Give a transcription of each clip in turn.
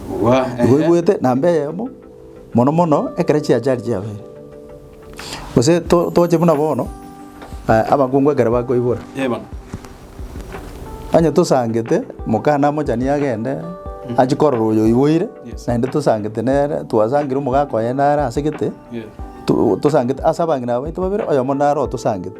Igwa, ehe. Ngoigwete namba eyemo mono mono ekero chiachari chiabere. Gose to- toche buna bono eh, abakungu ekero bakoibora Eh, bono. onye tosangete mokana amochani agende achie korora oyo oiboire Yes. naende tosangete nere twasangire omogaka oye nare ase gete Yes. to- tosangete ase abang'ina baito babere oyomo nare otosangete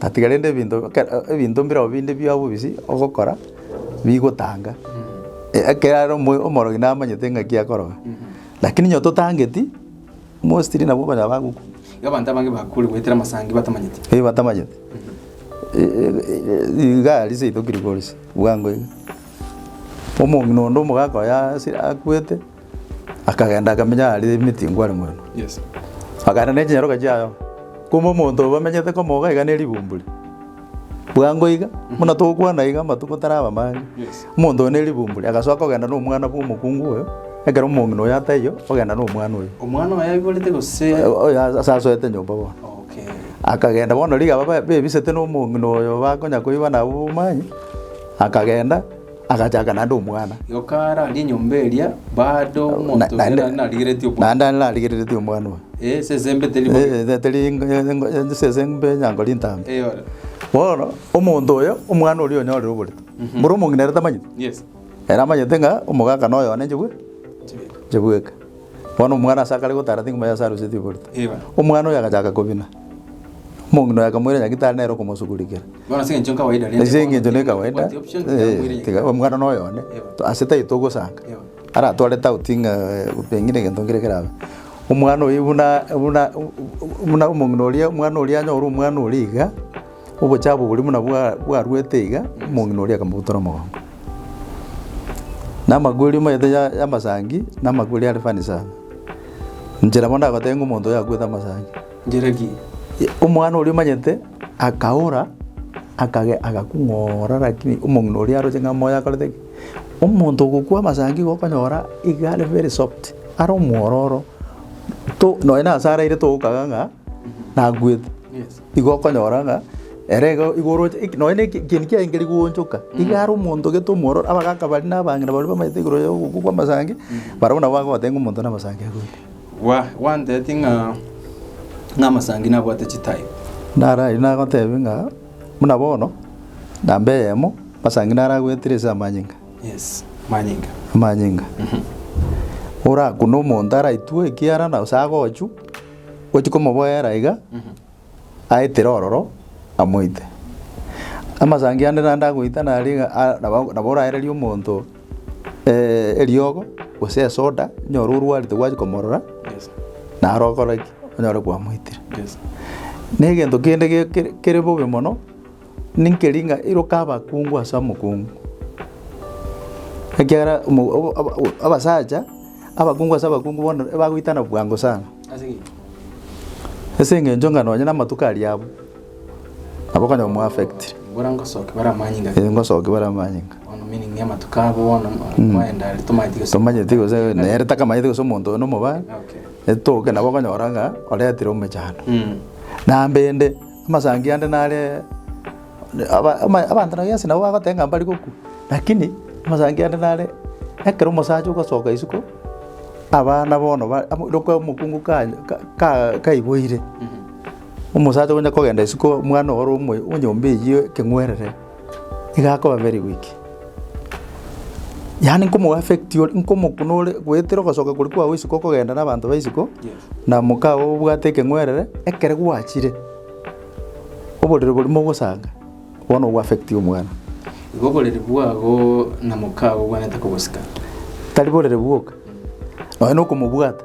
Gatiga rende ebinto ekero ebinto mbirobio binde bia bobisi ogokora bigotanga, ekeagera omo- omorogi namanyete ng'aki akoroga. Lakini onye totangeti, mostly nabo okonyora bagokwa. Iga abanto abange bakure goetera amasangi batamanyeti. Eeh batamanyeti. igaa riise itoki rigorisia, bwango iga. Omong'ina onde omogaaka oye ase akwete. Akagenda akamenya aria emiti ngware moremo, akaenda ne chinyaroka chiaye. Kumbe omonto oyo bamenyete komoga iga ne ribumburi, bwango iga buna togokwana iga amatuko taraba amange, omonto oyo ne ribumburi agasoka kogenda na omwana bwa omokungu oyo, ekero omong'ina oyo ataiyo ogenda na omwana oyo. Omwana oye aiborete gose? Oyo ase asoete nyomba bono. Okay. Akagenda bono rigaba ba- bebisete na omong'ina oyo bakonya koigwa nabo bobomani, akagenda. Agachaaka naende omwana. Igo kararie enyomba eria baade omonto oria naende- naende narigeretie obwate. Naende are narigereretie omwana oye. Eh, esesembe teri bo- Eh, eh, teri engo- engo- engo- esesembe enyanga ri ntambe. Eyore. Bono, omonto oyo, omwana oria onyorire oboretu. Mboro omong'ina ere tamanyeti? Yes. Ere amanyete ng'a omogaka noyo one njigwe, Chibere. njigweke. Bono omwana ase akare gotara ting'uma y'ase aruseti oborito. Omwana oyo agachaka kobina. Omong'ina oye akamoira nyagitari nere okomosugurikera. Ase eng'encho ne kawaida, ee, tiga omwana noyo one, ase tari togosanga. Aratware tauti ng'a pengine egento nkere kerabe. Omwana oyo buna buna buna omong'ina oria omwana oria anyore omwana oria iga. Obochie abo boria buna bwaruete iga, omong'ina oria akamobutora omogongo, na amakweri omanyete y'amasangi, na amakweri are funny sana. Inche nabo ndagoteba ng'a omonto oyo akwete amasangi. Njera ki? Omwana oria omanyete akaora, akagenda agakung'oora rakini omong'ina oria aroche ng'a moyo akorete ki? Omonto ogokwa amasangi igo okonyora iga are very soft, are omwororo, to nonya nase araire togokaga ng'a nakwete. Igo okonyora ng'a ere iga igo oroche eki nonya neki ekieni kiaengeri goonchoka, iga are omonto gete omwororo, abagaka baria na abang'ina baria bamanyete igoro ya ogokwa kwa amasangi, barabwo nabo bagoteba ng'a omonto one amasangi agoika. Gwa gwantereti ng'a ng'a amasangi nabwate chitype. Naro ayio nagotebia ng'a buna bono, namba eyemo, amasangi naro agoetire ase amanyinga, Yes, manyinga. amanyinga. Orakune omonto araitwe ekiara na gose agochwa. Gochia komoboera iga, aetera ororo, amoite. Amasangi ande naende agoitana aria iga a- nabo nabo oraererie omonto eriogo, gose esoda, onyore orwarete gwachia komorora, naro okore ki? Onyore kwamoitire. Negento kende ge- kere kere bobe mono. Ninki ring'a iroka abakungu ase omokungu? Ekiagera abasacha abakungu ase abakungu bono ebagoitana bwango sana, ase eng'encho ng'a nonye namatuko aria abwo, nabo okonyora omo-affectire. Ngosoki bare amanyinga. Eeh ngosoki bare amanyinga. Bono meaning ya amatuko abo bono twaenda aria tomanyeti gose. Tomanyeti gose nere takamanyeti gose omonto oyo nomobaa. Okay. Etoke nabo okonyora ng'a oretire omechando. Naende ende. Amasangi ande nare abanto na Yeso nabo bagoteba ng'a mbare gokwa, lakini amasangi ande nare ekero omosacha ogosoka isiko, abana bono ba ekero omokungu ka ka kaiboire, omosacha onya kogenda isiko omwana ore omo onyomba eyio ekeng'werere. Iga akoba very weak. Yaani nkomo affect ore, nkomo buna ore goetera ogosoka koria kwao isiko okogenda na abanto ba isiko, na mokao obwate ekeng'werere, ekere gwachire, oborere boria mogosanga, bono obo affect omwana. Igo oborere bwabo na mokao obwanete kobosika. Tari borere bwoka, nonya na okomobwata.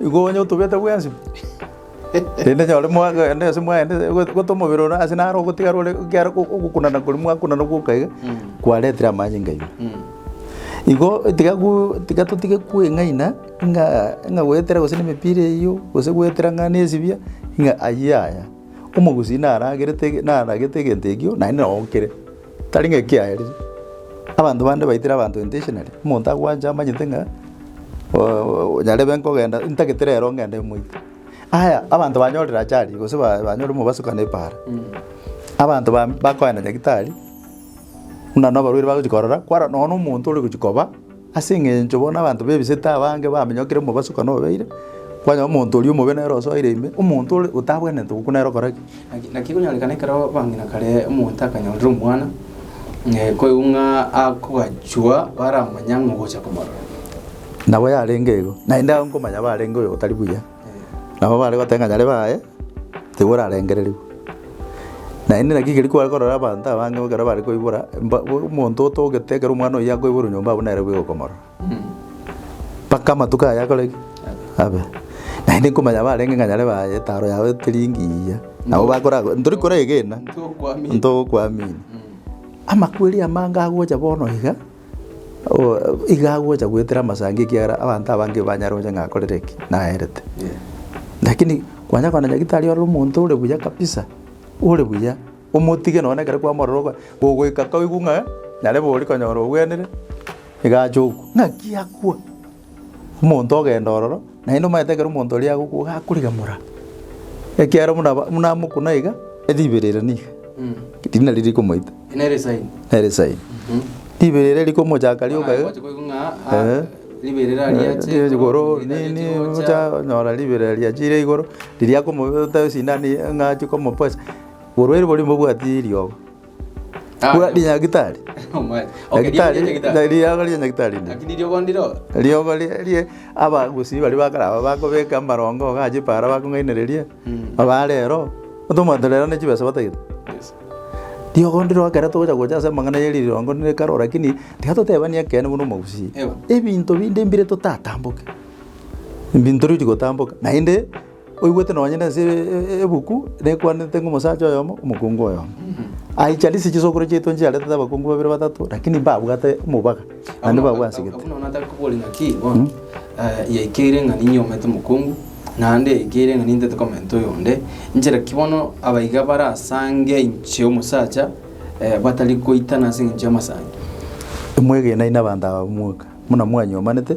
Igo onye otogete bwensi, rende nyore mwagenda ase mwaenda gose omobere ore ase naro ogotigara ore ekiagera ogokunana koria mwakunana gwoka iga kwaretire amanyinga aino. Igo tiga gu tiga totige kweng'aina ng'a ng'a goetera gose nemepira eyio gose goetera ng'a nesibia ng'a ayio yaya. Omogusii naragerete naragete egento ekio naende nao okire. Tari ng'ekiaerire abanto bande baitire abanto intentionally, omonto agwanche amanyete ng'a nyarebe nkogenda ntagete rero ngende moite. Aya abanto banyorire ajali gose ba banyore omobaso kane ebaara, abanto ba bakoenda nyagitari, buna na abarwaire bagochi korora kwara nonya na omonto ore gochi koba. Ase engencho bono abanto b'ebisete abange bamenyokire omobaso ekero nobeire, kwanyora omonto oria omobe nere osoire ime, omonto ore otabwenerete gokwa nere okore ki? Naki naki ekonyorekana ekero bang'ina kare omonto akanyorire omwana, ng'a koigwa ng'a akogachua baramanya ng'a ogocha komorora. Nabo yarenge igo, naende ao nkomanya barenge oyo otari buya. Nabo bare goteba ng'a nyarebe aye tiga orarengererigwe. Naende naki keri kware korora abanto abange ekero bare koibora mba omonto otogete ekero omwana oyio akoiborwa nyomba abwo nere bweogo okomorora. Mpaka amatuko aye akore ki? Abe. Naende nkomanya barenge ng'a nyarebe aye taro yabo teri engiya, nabo bakora ntori koregena, ntogokwamini. Amakweri amange agocha bono iga. iga agocha goetera amasango ekiagera abanto abange banyare gocha ng'a akorete ki? Naerete. Lakini kwanya koona nyagetari ore omonto ore buya kabisa, ore buya, omotige nonye ekero kwamorora ogo ogoika koigwa ng'a narebe oria konyora ogwenire, iga ache okwa. Ng'aki akwa? omonto ogenda ororo, naende omanyete ekero omonto oria agokwa iga akorigamora, ekiagera buna aba buna amokuna iga, eribero ere niga riria nario rikomoita. Nere esaini. Nere esaini. Ribero ere rikomochaka rioka iga. Bono naye gocha koigwa ng'a Eeh. ah, ribero ere ariache. Riria rigocha igoro nini ocha onyora ribero ere riachire igoro, riria akomoita esindano eye ng'a achie komopoisa, borwaire boria mbobwati riogo. Bwa rinyagitari. Nyagitari, na riogo ria nyagitari rinde. Lakini riogo ndiro Riogo rie rie abagusii baria ba kare aba bakobeka amarongo iga achipa ara bakong'ainereria, aba rero, otomanyete rero ne chibesa batagete. Yes. Riogo ndiro ekero togocha gocha ase amang'ana ye rirongo ne karo lakini tiga totebani ekeene buna omogusii. Ewa. Ebinto binde mbire totatamboke. Ebinto riri gotamboka naende. Oigwete nonye nense ebuku nekwanete ng'a omosacha oyomo omokungu oyomo aicha risiche chisokoro chiaito nchiaretete abakungu babere batato lakini mbabwate omobaga naende babwansegete. Buna bono nataka kobori ng'aki bono yaikeire ng'a ninyomete omokungu naende yaikeire ng'a nintete komenta oyonde, nchera ki bono abaiga barasange inche omosacha batari goitana ase eng'encho y'amasaancho? Imwegenai nabanto aba b'omweka, buna mwanyomanete.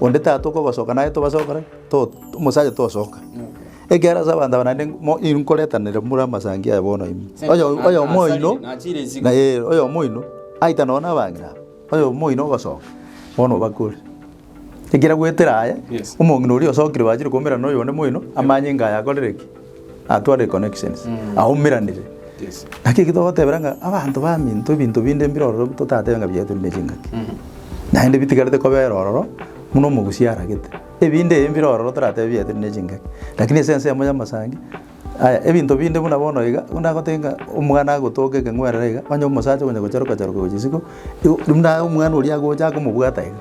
Onde tatokobasoka naye tobasokore to omosacha tosoka. Ekiagera ase abanto aba naende mo inkoretanere more amasangi aya bono ime. Oyo oyomo oino na eh oyomo oino aita nonye na abang'ina aba, oyomo oino ogosoka bono obakore. Ekero agoetera aye, omong'ina oria osokire bachire koumera na oyonde moino amanye inga aye akorire ki. Atware connections, aumeranire. Naki eki togotebera ng'a abanto baminto ebinto binde mbire ororo totatebe ng'a biaetwe buna chingaki. Naende bitigarete kobera ororo buna omogusia aragete. Ebinde ebi mbire ororo toratebe biaetwe buna chingaki. Lakini ase ense eyemo y'amasangi, aya ebinto binde buna bono iga, buna agote ng'a omwana agotoka ekeng'werere iga, onye omosacha okonya gocharuka charuka gochia isiko, igo buna omwana oria agocha akomobwata iga.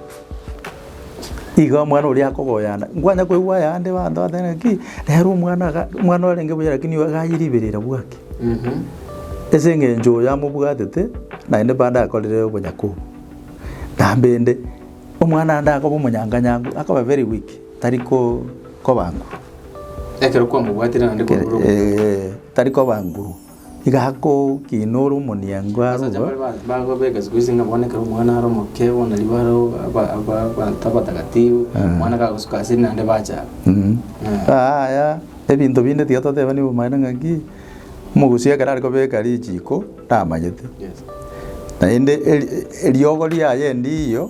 Igo omwana oria akogoyana, nkwanya koigwa ayande abanto bagoteeba ng'aki, rero omwana iga, omwana orenge buya rakini oyo iga aye ribero ira bwaki. Ase eng'encho oyo amobwatete, naende bande akorire obonyaku obo. Nambende, omwana ande akoba omonyanga nyangu, akoba very weak, tari ko koba nguru. Ekero kwamobwatire naende kwamorobokire. Eeh, tari koba nguru. Igakokinora omoniango aroro. Ebinto binde tiga totebani obomaene ng'aki omogusia ekero are kobeka richiko tamanyete, naende eriogo riaye endiiyo.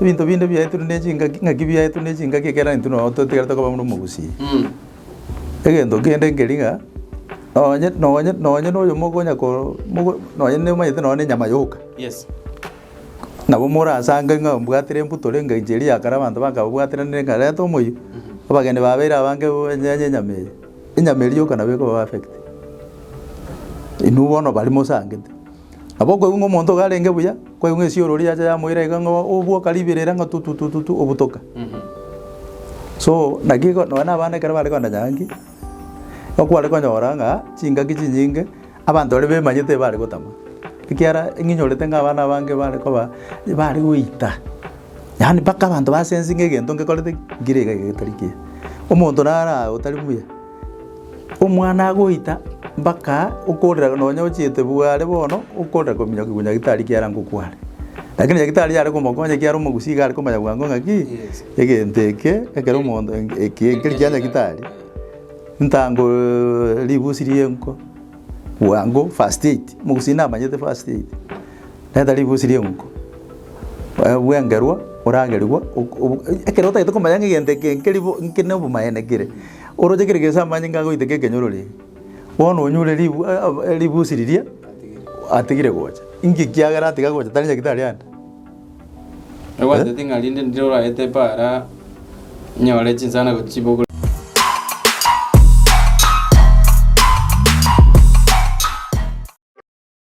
Ebinto binde biaetwe ne chingaki, ng'aki biaetwe ne chingaki ekiagera intwe noyo twatigarete koba buna omogusii. Egento kende nkeri ng'a, nonye nonye nonye noyo mokonya ko mogo nonye nomanyete nonye na enyama yoka, Yes. nabo morasange ng'a mbwatire embuto renge inche eria ya kare abanto bakababwaterenere ng'a reta omoyio, abageni babeire abange banyenya enyama eye, enyama eria yoka nabo ekoba affect. Inwe bono baria mosangete. Nabo okoigwa omonto iga arenge buya, kwaigwa esiororo yacha yamoira iga ng'a obwoka ribere ere ng'a tututututu obutoka. So naki iko nonye na abana ekero bare kogenda nyangi, nigo kware konyora ng'a chingaki chinyinge abanto baria bemanyete ebare gotama, ekiara ng'inyorete ng'a abana abange bare koba bare goita yaani mpaka abanto ba sensing'e egento ngekorete ki? Nkire iga iga getari kiya. Omonto naro aa otari buya. Omwana agoita mpaka okorera nonya ochiete bware bono okorera kominyoka igwa nyagitari kiara ngokware. Lakini nyagitari yare komokonya ekiara omogusii iga arekomanya bwango ng'aki, egento eke ekero omonto eki ekeri kia nyagitari ntango ribusi ri'enko bwango first aid, omogusii namanyete first aid. Reta ribusi ri'enko bwengerwa oragerigwa ok ok ekero otagete komanya ng'a egento eke nkeri bo nki nobomaene kere. Oroche kere geso amanyinga agoiteka ekenyorori, bono onyure ribu e- e- ribusi riria atigire gocha. Inki ekiagera atiga gocha tari nyagitari ande? Egwantete ng'a rinde ndire oraete epaara nyore chinsana gochia chibogoro.